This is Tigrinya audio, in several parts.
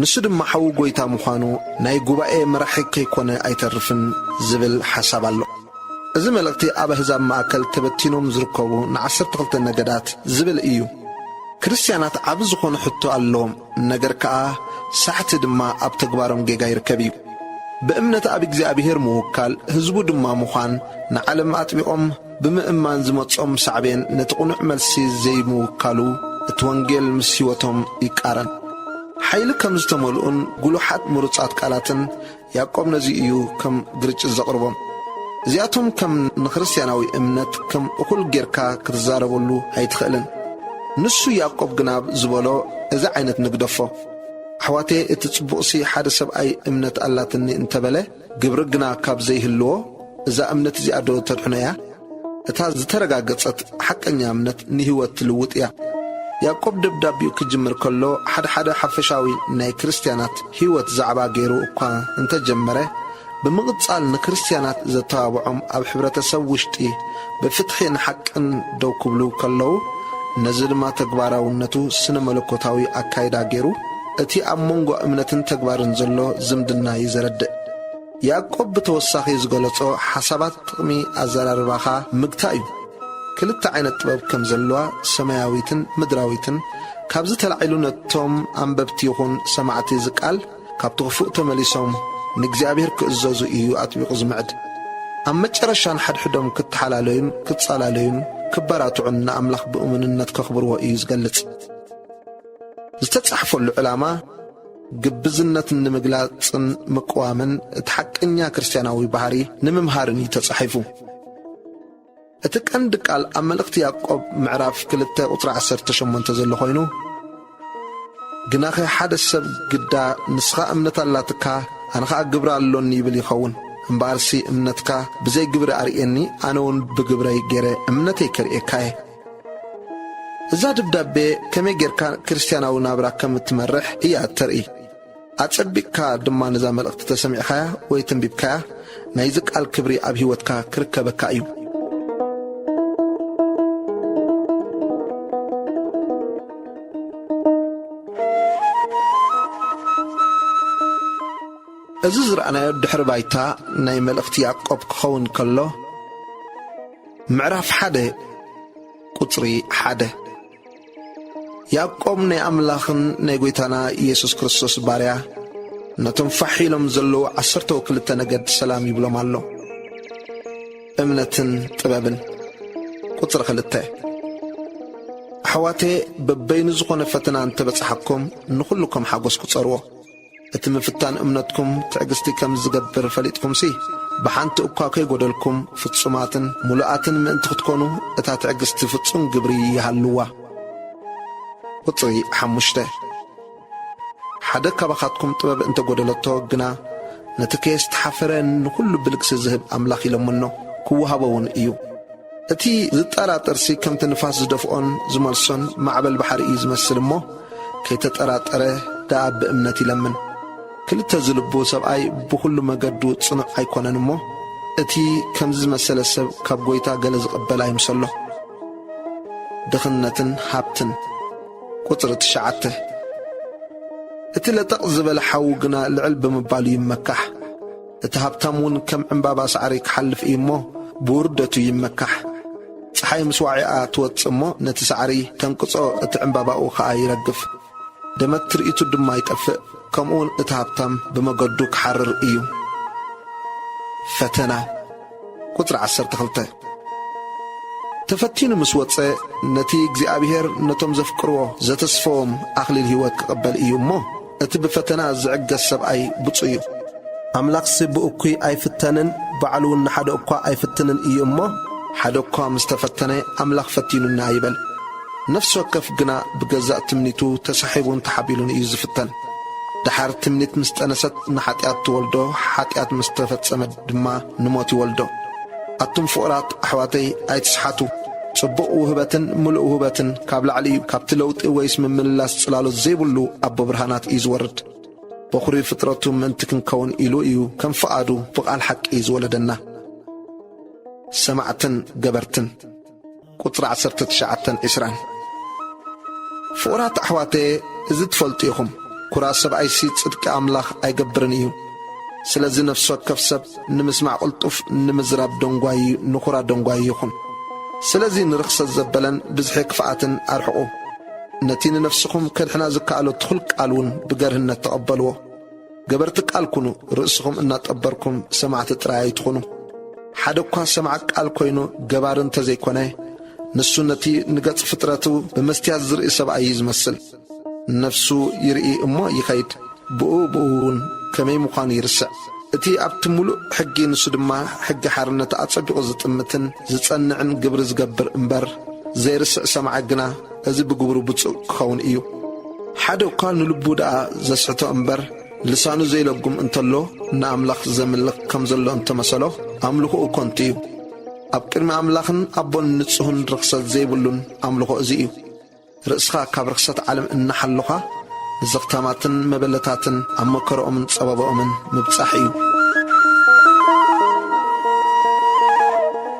ንሱ ድማ ሓዊ ጐይታ ምዃኑ ናይ ጉባኤ መራሒ ከይኮነ ኣይተርፍን ዝብል ሓሳብ ኣሎ። እዚ መልእኽቲ ኣብ ኣህዛብ ማእከል ተበቲኖም ዝርከቡ ንዓሰርተ ክልተ ነገዳት ዝብል እዩ። ክርስትያናት ዓቢ ዝኾነ ሕቶ ኣለዎም ነገር ከኣ ሳሕቲ ድማ ኣብ ተግባሮም ጌጋ ይርከብ እዩ። ብእምነት ኣብ እግዚኣብሄር ምውካል ህዝቡ ድማ ምዃን ንዓለም ኣጥቢቖም ብምእማን ዝመጾም ሳዕቤን ነቲ ቅኑዕ መልሲ ዘይምውካሉ እቲ ወንጌል ምስ ሕይወቶም ይቃረን። ሓይሊ ከም ዝተመልኡን ግሉሓት ምሩጻት ቃላትን ያእቆብ ነዚ እዩ ከም ግርጭት ዘቕርቦም። እዚኣቶም ከም ንክርስትያናዊ እምነት ከም እኹል ጌርካ ክትዛረበሉ ኣይትኽእልን። ንሱ ያእቆብ ግናብ ዝበሎ እዚ ዓይነት ንግደፎ። ኣሕዋተየ እቲ ጽቡቕሲ ሓደ ሰብኣይ እምነት ኣላትኒ እንተበለ፣ ግብሪ ግና ካብ ዘይህልዎ፣ እዛ እምነት እዚኣዶ ተድሕኖ እያ? እታ ዝተረጋገጸት ሓቀኛ እምነት ንህይወት ትልውጥ እያ። ያእቆብ ደብዳቤኡ ክጅምር ከሎ ሓድሓደ ሓፈሻዊ ናይ ክርስትያናት ህይወት ዛዕባ ገይሩ እኳ እንተ ጀመረ፣ ብምቕጻል ንክርስትያናት ዘተባብዖም ኣብ ሕብረተሰብ ውሽጢ ብፍትሒ ንሓቅን ደው ክብሉ ከለዉ፣ ነዚ ድማ ተግባራውነቱ ስነ መለኮታዊ ኣካይዳ ገይሩ፣ እቲ ኣብ መንጎ እምነትን ተግባርን ዘሎ ዝምድና እዩ ዘረድእ። ያእቆብ ብተወሳኺ ዝገለጾ ሓሳባት ጥቕሚ ኣዘራርባኻ ምግታእ እዩ። ክልተ ዓይነት ጥበብ ከም ዘለዋ ሰማያዊትን ምድራዊትን ካብዚ ተላዒሉ ነቶም ኣንበብቲ ይኹን ሰማዕቲ እዚ ቃል ካብቲ ክፉእ ተመሊሶም ንእግዚኣብሔር ክእዘዙ እዩ ኣጥቢቑ ዝምዕድ። ኣብ መጨረሻ ንሓድሕዶም ክተሓላለዩን ክጻላለዩን ክበራትዑን ንኣምላኽ ብእሙንነት ከኽብርዎ እዩ ዝገልጽ። ዝተጻሕፈሉ ዕላማ ግብዝነት ንምግላጽን ምቅዋምን እቲ ሓቀኛ ክርስትያናዊ ባህሪ ንምምሃርን እዩ ተጻሒፉ። እቲ ቀንዲ ቃል ኣብ መልእኽቲ ያዕቆብ ምዕራፍ ክልተ ቁጽሪ ዓሰርተ ሸሞንተ ዘሎ ኮይኑ ግናኸ ሓደ ሰብ ግዳ ንስኻ እምነት ኣላትካ ኣነ ኸኣ ግብሪ ኣሎኒ ይብል ይኸውን እምበኣርሲ እምነትካ ብዘይ ግብሪ ኣርእየኒ ኣነ እውን ብግብረይ ገይረ እምነተይ ከርእየካ እየ እዛ ደብዳቤ ከመይ ጌርካ ክርስትያናዊ ናብራ ከም እትመርሕ እያ እተርኢ። ኣጸቢቕካ ድማ ነዛ መልእኽቲ ተሰሚዕካያ ወይ ተንቢብካያ፣ ናይዚ ቃል ክብሪ ኣብ ህይወትካ ክርከበካ እዩ። እዚ ዝረኣናዮ ድሕሪ ባይታ ናይ መልእኽቲ ያእቆብ ክኸውን ከሎ፣ ምዕራፍ ሓደ ቁጽሪ ሓደ ያቆም ናይ ኣምላኽን ናይ ጐይታና ኢየሱስ ክርስቶስ ባርያ ነቶም ፋሕ ኢሎም ዘለዉ ዓሰርተው ክልተ ነገድ ሰላም ይብሎም ኣሎ። እምነትን ጥበብን ቁጽሪ ክልተ ኣሕዋቴ በበይኑ ዝኾነ ፈተና እንተበጽሓኩም ንኹሉ ከም ሓጐስ ቁጸርዎ። እቲ ምፍታን እምነትኩም ትዕግስቲ ከም ዚገብር ፈሊጥኩምሲ፣ ብሓንቲ እኳ ከይጐደልኩም ፍጹማትን ምሉኣትን ምእንቲ ኽትኰኑ፣ እታ ትዕግስቲ ፍጹም ግብሪ ይሃልዋ። ቍጽሪ ሓሙሽተ፣ ሓደ ካባኻትኩም ጥበብ እንተ ጐደለቶ ግና፣ ነቲ ከየስተሓፈረ ንዅሉ ብልግሲ ዚህብ ኣምላኽ ይለምኖ፣ ኪውሃቦውን እዩ። እቲ ዝጠራጠርሲ ከምቲ ንፋስ ዝደፍኦን ዝመልሶን ማዕበል ባሕሪ እዩ ዝመስል እሞ ከይተጠራጠረ ደኣ ብእምነት ይለምን። ክልተ ዝልቡ ሰብኣይ ብኹሉ መገዱ ጽኑዕ ኣይኮነን እሞ እቲ ከምዚ ዝመሰለ ሰብ ካብ ጎይታ ገለ ዝቕበል ኣይምሰሎ። ድኽነትን ሃብትን ቁጽሪ ትሽዓተ እቲ ለጠቕ ዝበለ ሓዉ ግና ልዕል ብምባሉ ይመካሕ። እቲ ሃብታም እውን ከም ዕምባባ ሳዕሪ ክሓልፍ እዩ እሞ ብውርደቱ ይመካሕ። ፀሓይ ምስ ዋዒኣ ትወፅእ እሞ ነቲ ሳዕሪ ተንቅፆ እቲ ዕምባባኡ ኸዓ ይረግፍ። ደመት ትርኢቱ ድማ ይጠፍእ። ከምኡውን እቲ ሃብታም ብመገዱ ክሓርር እዩ። ፈተና። ቍጽሪ ዓሰርተ ክልተ፣ ተፈቲኑ ምስ ወጸ፣ ነቲ እግዚኣብሄር ነቶም ዘፍቅርዎ ዘተስፈዎም ኣኽሊል ህይወት ኪቕበል እዩ እሞ፣ እቲ ብፈተና ዚዕገስ ሰብኣይ ብጹእ እዩ። ኣምላኽሲ ብእኩይ ኣይፍተንን፣ ባዕሉውን ንሓደ እኳ ኣይፍትንን እዩ እሞ፣ ሓደ እኳ ምስ ተፈተነ፣ ኣምላኽ ፈቲኑኒ ኣይበል፣ ነፍሲ ወከፍ ግና ብገዛእ ትምኒቱ ተሳሒቡን ተሓቢሉን እዩ ዚፍተን። ደሓር ትምኒት ምስ ጠነሰት ንሓጢኣት ትወልዶ፣ ሓጢኣት ምስ ተፈጸመ ድማ ንሞት ይወልዶ። ኣቱም ፍቑራት ኣሕዋተይ ኣይትስሓቱ። ጽቡቕ ውህበትን ምሉእ ውህበትን ካብ ላዕሊ እዩ፣ ካብቲ ለውጢ ወይስ ምምልላስ ጽላሎት ዘይብሉ ኣቦ ብርሃናት እዩ ዝወርድ። በዅሪ ፍጥረቱ ምእንቲ ክንከውን ኢሉ እዩ ከም ፍቓዱ ብቓል ሓቂ ዝወለደና። ሰማዕትን ገበርትን። ቁጽሪ ዓሰርተ ትሽዓተን ዕስራን ፍቑራት ኣሕዋተየ እዚ ትፈልጡ ኢኹም፣ ኩራ ሰብኣይሲ ጽድቂ ኣምላኽ ኣይገብርን እዩ። ስለዚ ነፍሲ ወከፍ ሰብ ንምስማዕ ቅልጡፍ፣ ንምዝራብ ደንጓዪ፣ ንኩራ ደንጓዪ ይኹን። ስለዚ ንርኽሰት ዘበለን ብዝሒ ክፍኣትን ኣርሕቑ። ነቲ ንነፍስኹም ከድሕና ዝከኣሎ ትኹል ቃልውን ብገርህነት ተቐበልዎ። ገበርቲ ቃል ኩኑ፣ ርእስኹም እናጠበርኩም ሰማዕቲ ጥራይ ኣይትኹኑ። ሓደ እኳ ሰማዕ ቃል ኮይኑ ገባሪ እንተ ዘይኮነ፣ ንሱ ነቲ ንገጽ ፍጥረቱ ብመስትያት ዝርኢ ሰብኣይ እዩ ዝመስል። ነፍሱ ይርኢ እሞ ይኸይድ፣ ብኡ ብኡውን ከመይ ምዃኑ ይርስዕ። እቲ ኣብቲ ምሉእ ሕጊ ንሱ ድማ ሕጊ ሓርነት ኣጸቢቑ ዝጥምትን ዝጸንዕን ግብሪ ዝገብር እምበር፣ ዘይርስዕ ሰማዒ ግና፣ እዚ ብግብሩ ብጹእ ክኸውን እዩ። ሓደ እኳ ንልቡ ደኣ ዘስሕቶ እምበር፣ ልሳኑ ዘይለጉም እንተሎ፣ ንኣምላኽ ዘምልኽ ከም ዘሎ እንተ መሰሎ፣ ኣምልኾኡ ከንቱ እዩ። ኣብ ቅድሚ ኣምላኽን ኣቦን ንጹህን ርኽሰት ዘይብሉን ኣምልኾ እዚ እዩ። ርእስኻ ካብ ርኽሰት ዓለም እናሓሎኻ፣ ንዘኽታማትን መበለታትን ኣብ መከርኦምን ጸበባኦምን ምብጻሕ እዩ።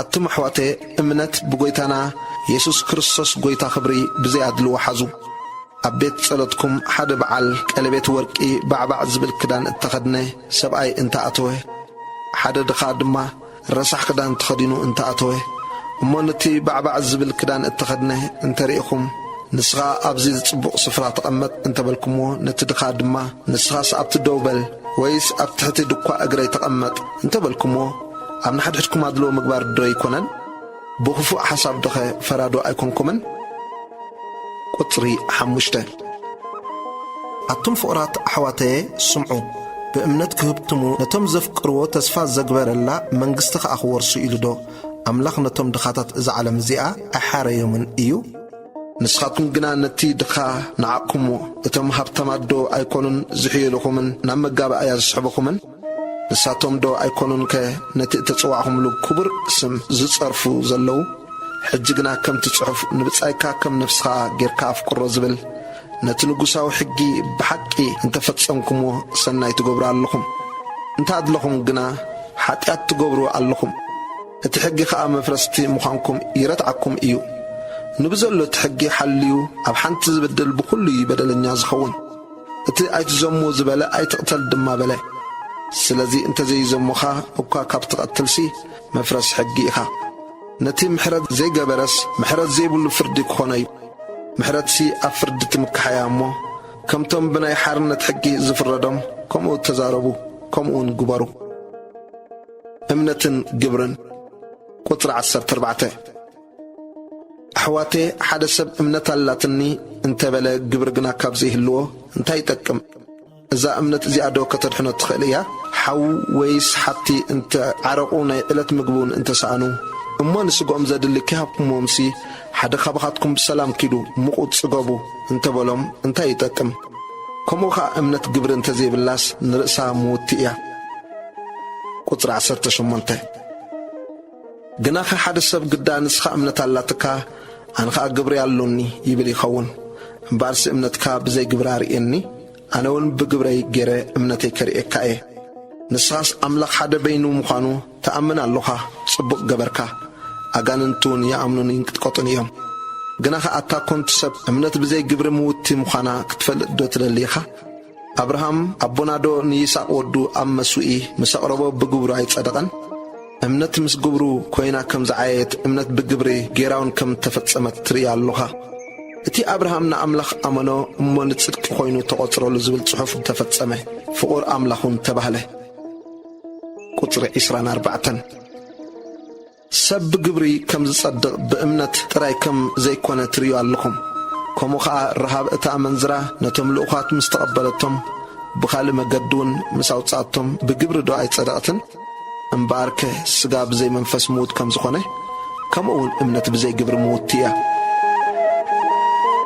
ኣቱም ኣሕዋተ እምነት ብጎይታና የሱስ ክርስቶስ ጎይታ ክብሪ ብዘይ ኣድልዎ ሓዙ። ኣብ ቤት ጸሎትኩም ሓደ ብዓል ቀለቤት ወርቂ ባዕባዕ ዝብል ክዳን እተኸድነ ሰብኣይ እንተ ኣተወ፣ ሓደ ድኻ ድማ ረሳሕ ክዳን ተኸዲኑ እንተ ኣተወ፣ እሞ ነቲ ባዕባዕ ዝብል ክዳን እተኸድነ እንተ ርኢኹም፣ ንስኻ ኣብዚ ጽቡቕ ስፍራ ተቐመጥ እንተ በልኩምዎ፣ ነቲ ድኻ ድማ ንስኻስ ኣብቲ ደው በል ወይስ ኣብ ትሕቲ ድኳ እግረይ ተቐመጥ እንተ በልኩምዎ፣ ኣብ ንሓድሕድኩም ኣድልዎ ምግባር ዶ ኣይኮነን? ብኽፉእ ሓሳብ ዶኸ ፈራዶ ኣይኮንኩምን? ቁጽሪ ሓሙሽተ፣ ኣቱም ፍቑራት ኣሕዋተየ ስምዑ፣ ብእምነት ክህብትሙ ነቶም ዘፍቅርዎ ተስፋ ዘግበረላ መንግስቲ ኸኣ ክወርሱ ኢሉ ዶ ኣምላኽ ነቶም ድኻታት እዛ ዓለም እዚኣ ኣይሓረዮምን እዩ? ንስኻትኩም ግና ነቲ ድኻ ነዓቕኩምዎ፣ እቶም ሃብታማት ዶ ኣይኮኑን ዝሕየሉኹምን ናብ መጋባእያ ዝስሕቡኹምን? ንሳቶምዶ ኣይኮኑንከ ነቲ እተጸዋዕኩምሉ ክቡር ስም ዝጸርፉ ዘለዉ? ሕጂ ግና ከምቲ ጽሑፍ ንብጻይካ ከም ነፍስኻ ጌርካ ኣፍቅሮ ዝብል፣ ነቲ ንጉሳዊ ሕጊ ብሓቂ እንተ ፈጸምኩምዎ ሰናይ ትገብሩ ኣለኹም። እንተ ኣድለኹም ግና ሓጢኣት ትገብሩ ኣለኹም። እቲ ሕጊ ኸኣ መፍረስቲ ምዃንኩም ይረትዓኩም እዩ። ንብዘሎ እቲ ሕጊ ሓልዩ ኣብ ሓንቲ ዝብድል ብኹሉ እዩ በደለኛ ዝኸውን። እቲ ኣይትዘሙ ዝበለ ኣይትቕተል ድማ በለ። ስለዚ እንተዘይዘሙኻ እኳ ካብ ትቐትልሲ መፍረስ ሕጊ ኢኻ። ነቲ ምሕረት ዘይገበረስ ምሕረት ዘይብሉ ፍርዲ ክኾኖ'ዩ። ምሕረትሲ ኣብ ፍርዲ ትምካሕ'ያ እሞ ከምቶም ብናይ ሓርነት ሕጊ ዝፍረዶም ከምኡ ተዛረቡ ከምኡ'ውን ግበሩ። እምነትን ግብርን ቁጽሪ ዓሰርተ ኣርባዕተ። ኣሕዋተየ ሓደ ሰብ እምነት ኣላትኒ እንተበለ ግብሪ ግና ካብ ዘይህልዎ እንታይ ይጠቅም? እዛ እምነት እዚኣ ዶ ከተድሕኖ ትኽእል እያ? ሓው ወይስ ሓብቲ እንተ ዓረቑ ናይ ዕለት ምግቢ እውን እንተ ሰኣኑ እሞ ንስግኦም ዘድሊ ከይሃብኩምዎምሲ ሓደ ካባኻትኩም ብሰላም ኪዱ ምቑት ጽገቡ እንተ በሎም እንታይ ይጠቅም? ከምኡ ኸኣ እምነት ግብሪ እንተ ዘይብላስ ንርእሳ ምውቲ እያ። ቁጽሪ ዓሰርተ ሸሞንተ። ግናኸ ሓደ ሰብ ግዳ ንስኻ እምነት ኣላትካ፣ ኣነ ኸኣ ግብሪ ኣሎኒ ይብል ይኸውን። እምበኣርሲ እምነትካ ብዘይ ግብሪ ኣርእየኒ፣ ኣነውን ብግብረይ ገይረ እምነተይ ከርእየካ እየ። ንስኻስ ኣምላኽ ሓደ በይኑ ምዃኑ ትኣምን ኣሎኻ፣ ጽቡቕ ገበርካ። ኣጋንንትውን ይኣምኑን ይንቅጥቀጡን እዮም። ግናኸ ኣታ ኰንቲ ሰብ፣ እምነት ብዘይ ግብሪ ምውትቲ ምዃና ክትፈልጥዶ ትደሊ ኢኻ? ኣብርሃም ኣቦናዶ ንይስቅ ወዱ ኣብ መስውኢ ምስ ኣቅረቦ ብግብሩ ኣይጸደቀን? እምነት ምስ ግብሩ ኮይና ከም ዝዓየየት እምነት ብግብሪ ገይራውን ከም እተፈጸመት ትርኢ ኣሎኻ። እቲ ኣብርሃም ንኣምላኽ ኣመኖ እሞ ንጽድቂ ኮይኑ ተቆጽረሉ ዝብል ጽሑፍ ተፈጸመ ፍቁር ኣምላኽ ውን ተባህለ። ቁጽሪ ዕስራን ኣርባዕተን። ሰብ ብግብሪ ከም ዝጸድቕ ብእምነት ጥራይ ከም ዘይኰነ ትርእዩ ኣለኹም። ከምኡ ኸኣ ረሃብ እታ ኣመንዝራ ነቶም ልኡኻት ምስ ተቐበለቶም፣ ብኻልእ መገዲውን ምስ ኣውጽኣቶም ብግብሪዶ ኣይጸደቐትን? እምበኣርከ ስጋ ብዘይ መንፈስ ምዉት ከም ዝዀነ፣ ከምኡውን እምነት ብዘይ ግብሪ ምዉትቲ እያ።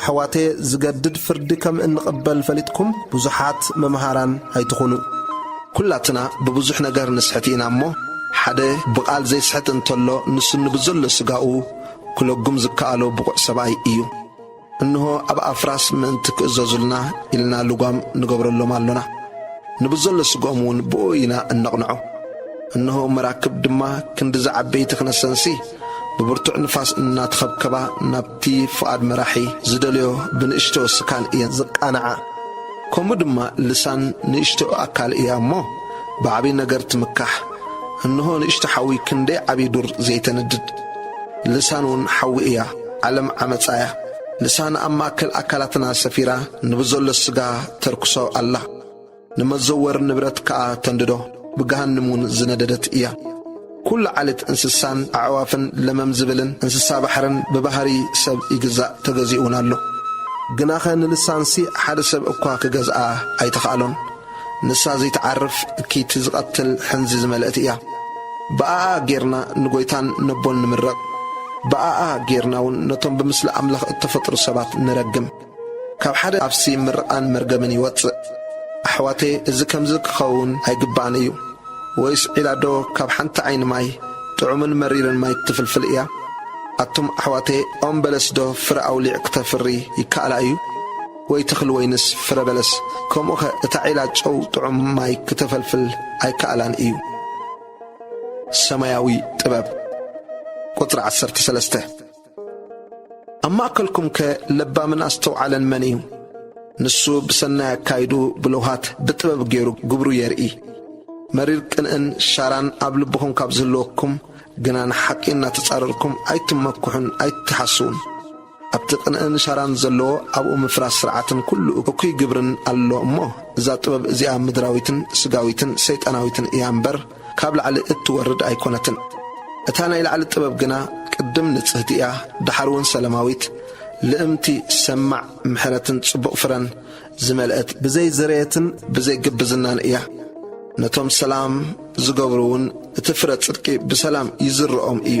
ኣሕዋተየ ዝገድድ ፍርዲ ከም እንቕበል ፈሊጥኩም ብዙሓት መምሃራን ኣይትኹኑ። ኩላትና ብብዙሕ ነገር ንስሕት ኢና እሞ ሓደ ብቓል ዘይስሕት እንተሎ ንሱ ንብዘሎ ስጋኡ ክለጉም ዝከኣሎ ብቑዕ ሰብኣይ እዩ። እንሆ ኣብ ኣፍራስ ምእንቲ ክእዘዙልና ኢልና ልጓም ንገብረሎም ኣሎና። ንብዘሎ ስግኦም እውን ብእኡ ኢና እነቕንዖ። እንሆ መራክብ ድማ ክንድዚ ዓበይቲ ክነሰንሲ ብብርቱዕ ንፋስ እናተኸብከባ ናብቲ ፍቓድ መራሒ ዝደልዮ ብንእሽቶ ስካል እየን ዝቃናዓ። ከምኡ ድማ ልሳን ንእሽቶ ኣካል እያ እሞ ብዓብዪ ነገር ትምካሕ። እንሆ ንእሽቶ ሓዊ ክንደይ ዓብዪ ዱር ዘይተንድድ። ልሳን እውን ሓዊ እያ። ዓለም ዓመጻ እያ። ልሳን ኣብ ማእከል ኣካላትና ሰፊራ ንብዘሎ ስጋ ተርክሶ ኣላ። ንመዘወር ንብረት ከኣ ተንድዶ፣ ብገሃንም እውን ዝነደደት እያ። ኵሉ ዓሌት እንስሳን ኣዕዋፍን ለመም ዚብልን እንስሳ ባሕርን ብባህርይ ሰብ ይግዛእ፣ ተገዚኡ እውን ኣሎ። ግናኸ ንንሳንሲ ሓደ ሰብ እኳ ኪገዝኣ ኣይተኻእሎን። ንሳ ዘይትዓርፍ፣ እክይቲ፣ ዚቐትል ሕንዚ ዝመልአት እያ። ብኣኣ ጌርና ንጐይታን ነቦን ንምረቕ፣ ብኣኣ ጌርና እውን ነቶም ብምስሊ ኣምላኽ እተፈጥሩ ሰባት ንረግም። ካብ ሓደ ኣፍሲ ምርቓን መርገምን ይወጽእ። ኣሕዋተየ እዚ ከምዚ ክኸውን ኣይግባእን እዩ። ወይስ ዒላ ዶ ካብ ሓንቲ ዓይኒ ማይ ጥዑምን መሪርን ማይ ትፍልፍል እያ? ኣቱም ኣሕዋተየ ኦም በለስ ዶ ፍረ ኣውሊዕ ክተፍሪ ይከኣላ እዩ? ወይ ተኽሊ ወይንስ ፍረ በለስ? ከምኡኸ እታ ዒላ ጨው ጥዑም ማይ ክተፈልፍል ኣይከኣላን እዩ። ሰማያዊ ጥበብ ቁጽሪ ዓሰርተ ሰለስተ። ኣብ ማእከልኩምከ ለባምን ኣስተውዓለን መን እዩ? ንሱ ብሰናይ ኣካይድኡ ብለውሃት ብጥበብ ገይሩ ግብሩ የርኢ። መሪር ቅንእን ሻራን ኣብ ልብኹም ካብ ዝህልወኩም ግና ንሓቂ እናተጻረርኩም ኣይትመክሑን ኣይትሓስዉን። ኣብቲ ቅንእን ሻራን ዘለዎ ኣብኡ ምፍራስ ስርዓትን ኩሉ እኩይ ግብርን ኣሎ እሞ እዛ ጥበብ እዚኣ ምድራዊትን ስጋዊትን ሰይጣናዊትን እያ እምበር ካብ ላዕሊ እትወርድ ኣይኮነትን። እታ ናይ ላዕሊ ጥበብ ግና ቅድም ንጽህቲ እያ ደሓርውን ሰለማዊት፣ ልእምቲ፣ ሰማዕ፣ ምሕረትን ጽቡቕ ፍረን ዝመልእት፣ ብዘይ ዝርየትን ብዘይ ግብዝናን እያ፣ ነቶም ሰላም ዝገብሩውን እቲ ፍረ ጽድቂ ብሰላም ይዝርኦም እዩ።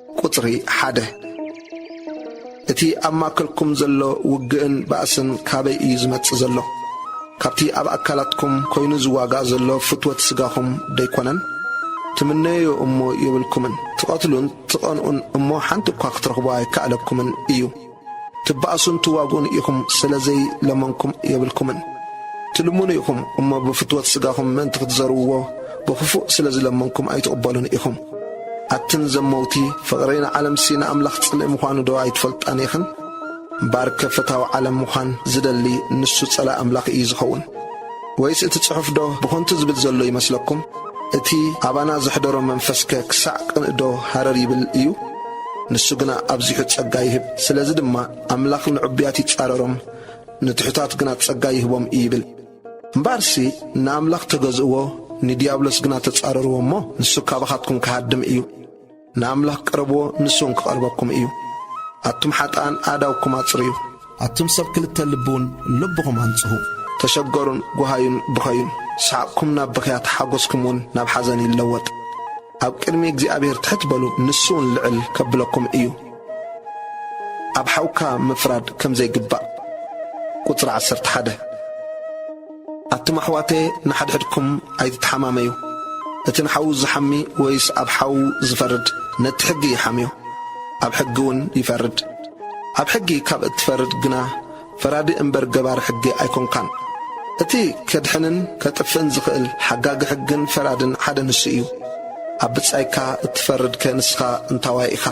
ቁጽሪ ሓደ፣ እቲ ኣብ ማእከልኩም ዘሎ ውግእን ባእስን ካበይ እዩ ዝመጽእ ዘሎ? ካብቲ ኣብ ኣካላትኩም ኮይኑ ዝዋጋእ ዘሎ ፍትወት ስጋኹም ደይኮነን? ትምነዮዮ እሞ የብልኩምን፣ ትቐትሉን ትቐንኡን እሞ ሓንቲ እኳ ክትረኽቡ ኣይከኣለኩምን እዩ። ትባኣሱን ትዋጉኡን ኢኹም ስለ ዘይ ለመንኩም የብልኩምን ትልምኑ ኢኹም እሞ ብፍትወት ስጋኹም ምእንቲ ክትዘርውዎ ብኽፉእ ስለ ዝለመንኩም ኣይትቕበሉን ኢኹም ኣትን ዘመውቲ ፍቕሪ ንዓለምሲ ንኣምላኽ ጽልኢ ምዃኑ ዶ ኣይትፈልጣን ኢኽን እምበኣርከ ፈታዊ ዓለም ምዃን ዝደሊ ንሱ ጸላኢ ኣምላኽ ኢዩ ዝኸውን። ወይስ እቲ ጽሑፍዶ ብኸንቱ ዝብል ዘሎ ይመስለኩም? እቲ ኣባና ዘሕደሮ መንፈስከ ክሳዕ ቅንእዶ ሃረር ይብል እዩ? ንሱ ግና ኣብዚሑ ጸጋ ይህብ። ስለዚ ድማ ኣምላኽ ንዕቡያት ይጻረሮም፣ ንትሑታት ግና ጸጋ ይህቦም እዩ ይብል። እምበኣርሲ ንኣምላኽ ተገዝእዎ፣ ንዲያብሎስ ግና ተጻረርዎ እሞ፣ ንሱ ካባኻትኩም ክሃድም እዩ። ንኣምላኽ ቅረብዎ ንሱውን ክቐርበኩም እዩ። ኣቱም ሓጥኣን ኣእዳውኩም ኣጽርዩ። ኣቱም ሰብ ክልተ ልቢውን ልብኹም ኣንጽሁ። ተሸገሩን ጐሃዩን ብኸዩን። ሰሓቕኩም ናብ ብኽያት ሓጐስኩምውን ናብ ሓዘን ይለወጥ። ኣብ ቅድሚ እግዚኣብሄር ትሕት በሉ ንሱውን ልዕል ከብለኩም እዩ። ኣብ ሓውካ ምፍራድ ከም ዘይግባእ። ቁጽሪ ዓሰርተ ሓደ። ኣቱም ኣሕዋተየ ንሓድሕድኩም ኣይትተሓማመዩ እቲ ንሓዉ ዝሓሚ ወይስ ኣብ ሓዉ ዝፈርድ ነቲ ሕጊ ይሓምዮ ኣብ ሕጊ ዉን ይፈርድ ኣብ ሕጊ ካብ እትፈርድ ግና ፈራዲ እምበር ገባሪ ሕጊ ኣይኮንካን እቲ ከድሕንን ከጥፍእን ዝኽእል ሓጋጊ ሕግን ፈራድን ሓደ ንሱ እዩ ኣብ ብጻይካ እትፈርድ ከ ንስኻ እንታዋይ ኢኻ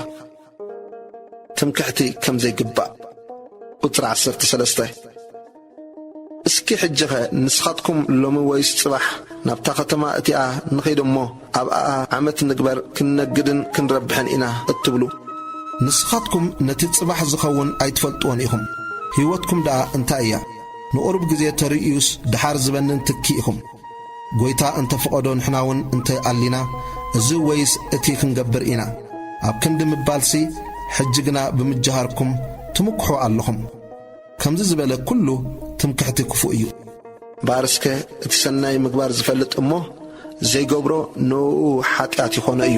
ትምክሕቲ ከም ዘይግባእ። ቁጽሪ ዓሰርተ ሰለስተ፣ እስኪ ሕጂኸ ንስኻትኩም ሎሚ ወይስ ጽባሕ ናብታ ኸተማ እቲኣ ንኺድ እሞ፣ ኣብኣ ዓመት ንግበር፣ ክንነግድን ክንረብሕን ኢና እትብሉ፣ ንስኻትኩም ነቲ ጽባሕ ዚኸውን ኣይትፈልጥዎን ኢኹም፣ ህይወትኩም ደኣ እንታይ እያ? ንቝሩብ ግዜ ተርእዩስ፣ ደሓር ዚበንን ትኪ ኢኹም። ጐይታ እንተ ፍቐዶ ንሕናውን እንተ ኣሊና እዚ ወይስ እቲ ክንገብር ኢና ኣብ ክንዲ ምባልሲ ሕጂ ግና ብምጅሃርኩም ትምክሑ ኣሎኹም። ከምዚ ዝበለ ኩሉ ትምክሕቲ ክፉእ እዩ። እምበኣርስከ እቲ ሰናይ ምግባር ዝፈልጥ እሞ ዘይገብሮ ንእኡ ሓጢኣት ይኾኖ እዩ።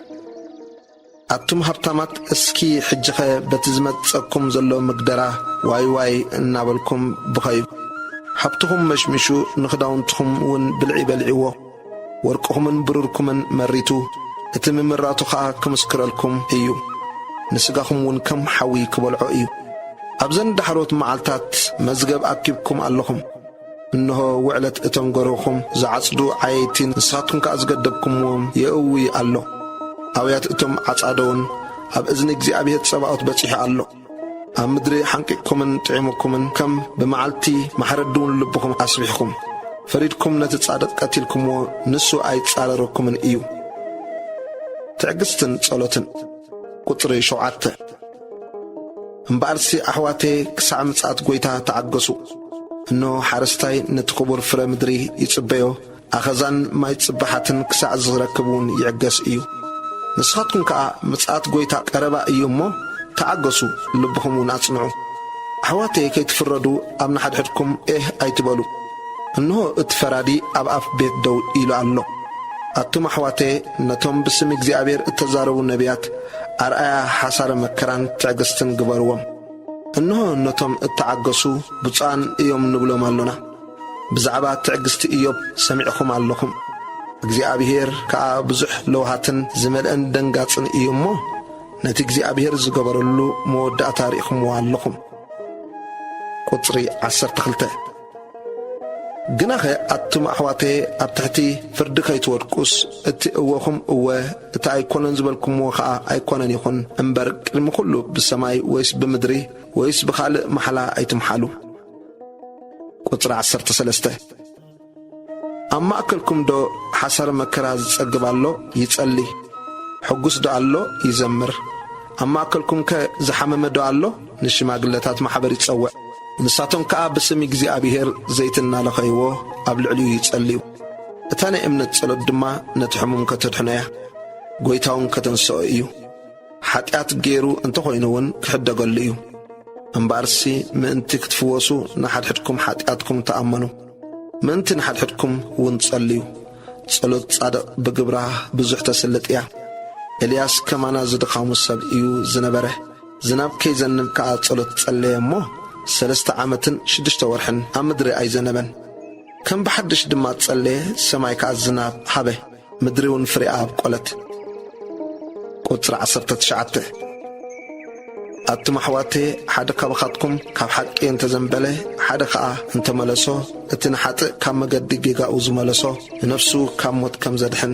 ኣቱም ሃብታማት እስኪ ሕጂኸ በቲ ዝመጸኩም ዘሎ ምግደራ ዋይ ዋይ እናበልኩም ብኸዩ። ሃብትኹም መሽሚሹ ንኽዳውንትኹም ውን ብልዒ በሊዕዎ። ወርቅኹምን ብሩርኩምን መሪቱ፣ እቲ ምምራቱ ኸኣ ክምስክረልኩም እዩ። ንስጋኹም ውን ከም ሓዊ ክበልዖ እዩ። ኣብዘን ዳሕሮት መዓልታት መዝገብ ኣኪብኩም ኣለኹም። እንሆ ውዕለት እቶም ጎረኹም ዝዓጽዱ ዓየይቲ ንሳትኩም ከኣ ዝገደብኩምዎም የእዊ ኣሎ፣ ኣውያት እቶም ዓጻዶውን ኣብ እዝኒ እግዚኣብሄር ጸባኦት በጺሑ ኣሎ። ኣብ ምድሪ ሓንቂቅኩምን ጥዒሙኩምን፣ ከም ብመዓልቲ ማሕረዲውን ልብኹም ኣስቢሕኩም። ፈሪድኩም ነቲ ጻድቕ ቀቲልኩምዎ፣ ንሱ ኣይጻረረኩምን እዩ። ትዕግስትን ጸሎትን። ቁጽሪ ሸውዓተ። እምበኣርሲ ኣሕዋተየ ክሳዕ ምጽኣት ጐይታ ተዓገሱ። እንሆ፣ ሓረስታይ ነቲ ኽቡር ፍረ ምድሪ ይጽበዮ፣ ኣኸዛን ማይ ጽባሓትን ክሳዕ ዚረክብ እውን ይዕገስ እዩ። ንስኻትኩም ከኣ ምጽኣት ጐይታ ቀረባ እዩ እሞ፣ ተዓገሱ፣ ልብኹም እውን ኣጽንዑ። ኣሕዋተየ ከይትፍረዱ ኣብ ንሓድሕድኩም ኤህ ኣይትበሉ። እንሆ እቲ ፈራዲ ኣብ ኣፍ ቤት ደው ኢሉ ኣሎ። ኣቱም ኣሕዋተየ፣ ነቶም ብስም እግዚኣብሄር እተዛረቡ ነብያት፣ ኣርኣያ ሓሳረ መከራን ትዕግስትን ግበርዎም። እንሆ ነቶም እተዓገሱ ብፁዓን እዮም ንብሎም ኣሎና። ብዛዕባ ትዕግስቲ እዮብ ሰሚዕኹም ኣሎኹም። እግዚኣብሄር ከኣ ብዙሕ ለውሃትን ዝመልአን ደንጋጽን እዩ እሞ፣ ነቲ እግዚኣብሄር ዝገበረሉ መወዳእታ ርኢኹምዎ ኣሎኹም። ቁጽሪ ዓሰርተ ክልተ። ግናኸ ኣቱም ኣሕዋተየ ኣብ ትሕቲ ፍርዲ ከይትወድቁስ፣ እቲ እወኹም እወ፣ እቲ ኣይኮነን ዝበልኩምዎ ኸኣ ኣይኮነን ይኹን እምበር፣ ቅድሚ ዅሉ ብሰማይ ወይስ ብምድሪ ወይስ ብኻልእ ማሕላ ኣይትምሓሉ። ቍጽሪ ዓሰርተ ሰለስተ ኣብ ማእከልኩምዶ ሓሳረ መከራ ዝጸግብ ኣሎ? ይጸሊ። ሕጉስዶ ኣሎ? ይዘምር። ኣብ ማእከልኩምከ ዝሓመመዶ ኣሎ? ንሽማግለታት ማሕበር ይጸውዕ፣ ንሳቶም ከኣ ብስም እግዚኣብሄር ዘይቲ እናለኸይዎ ኣብ ልዕሊኡ ይጸልዩ። እታ ናይ እምነት ጸሎት ድማ ነቲ ሕሙም ከተድሕኖ እያ፣ ጐይታውን ከተንስኦ እዩ። ሓጢኣት ገይሩ እንተ ዀይኑውን ክሕደገሉ እዩ። እምበኣርሲ ምእንቲ ክትፍወሱ ንሓድሕድኩም ሓጢኣትኩም ተኣመኑ፣ ምእንቲ ንሓድሕድኩም እውን ጸልዩ። ጸሎት ጻድቕ ብግብራ ብዙሕ ተስልጥ እያ። ኤልያስ ከማና ዝድኻሙ ሰብ እዩ ዝነበረ። ዝናብ ከይዘንብ ከኣ ጸሎት ጸለየ እሞ፣ ሰለስተ ዓመትን ሽዱሽተ ወርሕን ኣብ ምድሪ ኣይዘነበን። ከም ብሓድሽ ድማ ጸለየ፣ ሰማይ ከኣ ዝናብ ሃበ፣ ምድሪውን ፍሬኣ ኣብቈለት። ቁጽሪ ዓሰርተ ትሽዓተ ኣቱም ኣሕዋተየ፣ ሓደ ካባኻትኩም ካብ ሓቂ እንተ ዘንበለ፣ ሓደ ኸኣ እንተ መለሶ፣ እቲ ንሓጥእ ካብ መገዲ ጌጋኡ ዝመለሶ፣ ንነፍሱ ካብ ሞት ከም ዘድሕን፣